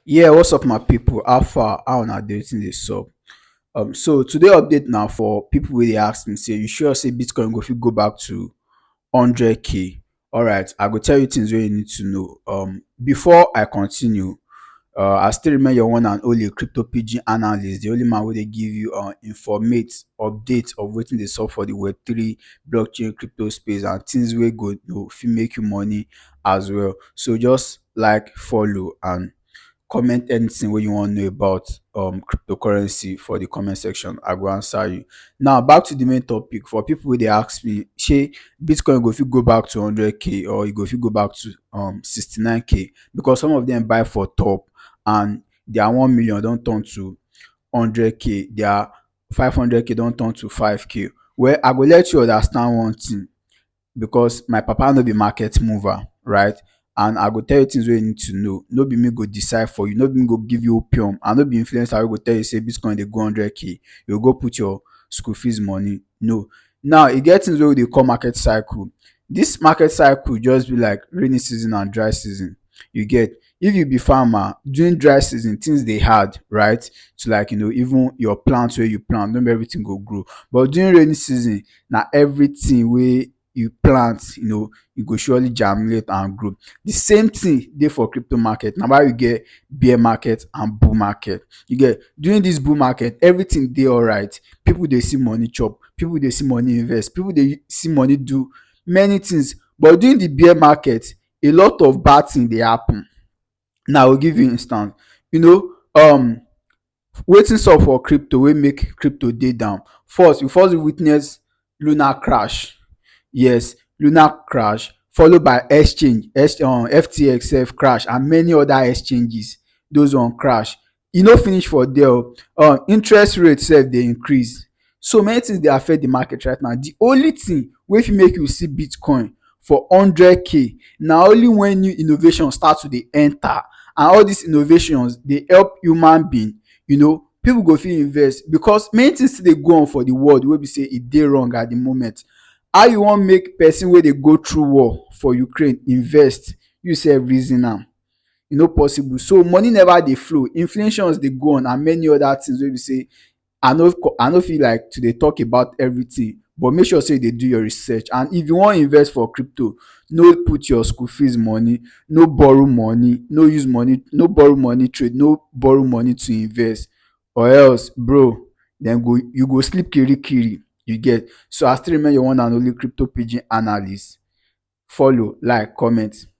Yeah, what's up my people? How far? How una dey? Wetin dey sup? Um, so today update now for people wey dey ask me say you sure say Bitcoin go fit go back to 100k? Alright, I go tell you things wey you need to know. Um, before I continue, uh, I still remain your one and only crypto PG analyst, the only man wey dey give you uh, informate update of wetin dey sup for the Web3 blockchain crypto space and things wey go you know, fit make you money as well. So just like, follow and comment anything wey you wan know about um cryptocurrency for the comment section. I go answer you. Now back to the main topic for people wey dey ask me shey bitcoin go fit go back to hundred k or e go fit go back to um sixty nine k because some of them buy for top and their one million don turn to hundred k their five hundred k don turn to five k. Well I go let you understand one thing because my papa no be market mover right and I go tell you things wey you need to know. No be me go decide for you, no be me go give you opium and no be influencer wey go tell you sey bitcoin dey go hundred k, you go go put your school fees money, no. Now e get things wey we dey call market cycle. Dis market cycle just be like raining season and dry season, you get. if you be farmer during dry season things dey hard right to like you know even your plant wey you plant no be everything go grow but during rainy season na everything wey you plant you know e go surely germinate and grow the same thing dey for crypto market na why we get bear market and bull market you get during this bull market everything dey alright people dey see money chop people dey see money invest people dey see money do many things but during the bear market a lot of bad thing dey happen now i go give you instance you know um wetin sup for crypto wey make crypto dey down first you first witness luna crash yes luna crash follow by exchange um ftx sef crash and many other exchanges those one crash E no finish for there o, um interest rate sef dey increase. So many things dey affect the market right now. The only thing wey fit make you see Bitcoin for hundred k na only when new innovation start to dey enter and all these innovations dey help human being, you know, people go fit invest because many things still dey go on for the world wey be sey e dey wrong at the moment. How you wan make person wey dey go through war for Ukraine invest? You sef reason am. e no possible so money never dey flow inflations dey go on and many other things wey be say I no I no fit like to dey talk about everything but make sure say you dey do your research and if you wan invest for crypto no put your school fees money no borrow money no use money no borrow money trade no borrow money to invest or else bro dem go you go sleep kirikiri you get so I still remain your one and only crypto pidgin analyst follow like comment.